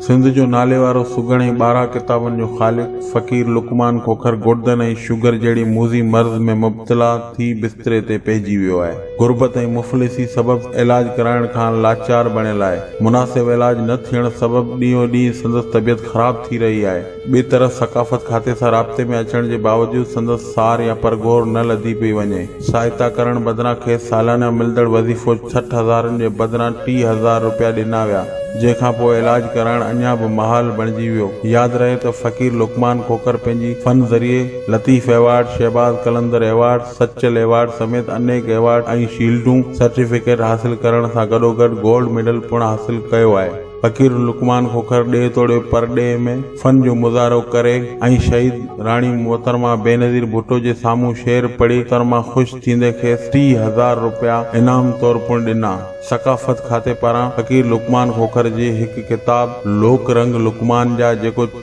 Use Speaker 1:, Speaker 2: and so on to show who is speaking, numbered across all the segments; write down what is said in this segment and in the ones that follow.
Speaker 1: سنڌ جو ناليوارو سگهڙ ۽ ٻارهن ڪتابن جو خالق فقير لقمان کوکر گڙدن ۽ شگر جهڙي موذي مرض ۾ مبتلا ٿي بستري تي پئجي ويو آهي. غربت ۽ مفلسي سبب علاج ڪرائڻ کان لاچار بڻيل آهي، مناسب علاج نه ٿيڻ سبب ڏينهون ڏينهن سندس طبيعت خراب ٿي رهي آهي، ٻئي طرف ثقافت کاتي سان رابطي ۾ اچڻ جي باوجود سندس سار يا پرگهور نه لڌي پئي وڃي، سهائتا ڪرڻ بدران کيس سالانه ملندڙ وظيفو سٺ هزارن جي بدران ٽيهه هزار روپيا ڏنا ويا، جنهن کان پوء علاج ڪرائڻ اڃا به محال بڻجي ويو، ياد رهي ته فقير لقمان کوکر پنهنجي فن ذريعي Latif award, Shahbaz Qalandar award, Sachal award سميت انيڪ ايوارڊ ۽ شيلڊون، سرٽيفڪيٽ حاصل ڪرڻ سان گڏوگڏ گولڊ ميڊل پڻ حاصل ڪيو آهي. فقير لقمان کوکر ڏيهه توڙي پرڏيهه ۾ فن جو مظاهرو ڪري ۽ شهيد راڻي محترمه بينظير ڀٽو جي سامهون شعر پڙهي محترمه خوش ٿيندي کيس ٽيهه هزار روپيا انعام طور پڻ ڏنا. ثقافت کاتي پاران فقير لقمان کوکر جي هڪ ڪتاب لوڪ رنگ لقمان جا جيڪو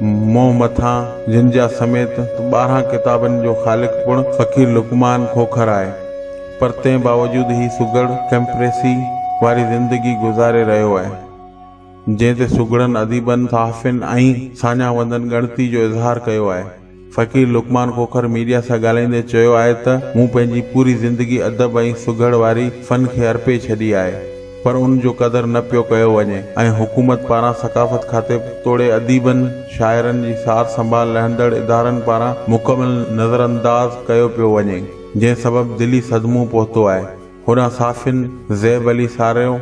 Speaker 1: منهن مٿان جن جا سميت ٻارهن ڪتابن جو خالق پڻ فقير لقمان کوکر آهي پر تنهن باوجود هي سگهڙ ڪئمپريسي واري زندگي گذاري رهيو آهي جنهن تي سگهڙن اديبن صحافين ۽ ساڃاهه وندن ڳڻتي جو اظهار ڪيو آهي. فقير لقمان کوکر ميڊيا سان ڳالهائيندي چيو آهي ته مون پنهنجي پوري زندگي ادب ۽ سگهڙ واري فن کي ارپي ڇڏي آهي پر ان جو قدر نه پيو ڪيو وڃي ۽ حڪومت پاران ثقافت کاتي توڙي اديبن شاعرن جي سار سنڀال لهندڙ ادارن پاران مڪمل نظرانداز ڪيو پيو وڃي جنهن سبب دلي صدمو پهتو آهي. هوڏانهن صحافين زيب علي ساريو،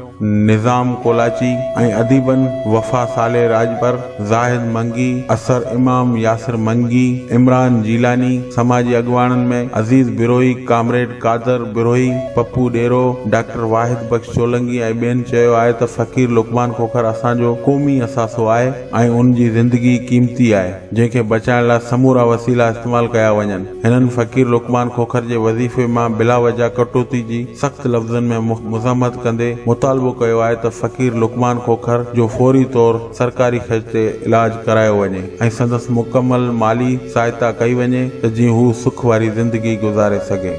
Speaker 1: نظام ڪولاچي ۽ اديبن وفا صالح راڄپر، زاهد منگي، اثر امام، ياسر منگي، عمران جيلاني، سماجي اڳواڻن ۾ عزيز بروهي، ڪامريڊ قادر بروهي، پپو ڏيرو، ڊاڪٽر واحد بخش چولنگي ۽ ٻين چيو آهي ته فقير لقمان کوکر اسان جو قومي اثاثو آهي ۽ ان جي زندگي قيمتي آهي جنهن کي بچائڻ لاء سمورا وسيلا استعمال ڪيا وڃن. هنن فقير لقمان کوکر جي وظيفي مان بلا وجه ڪٽوتي جي سخت لفظن ۾ مذمت ڪندي مطالبو ڪيو آهي ته فقير لقمان کوکر جو فوري طور سرڪاري خرچ تي علاج ڪرايو وڃي ۽ سندس مڪمل مالي سهائتا ڪئي وڃي ته جيئن هو سک واري زندگي گذاري سگهي.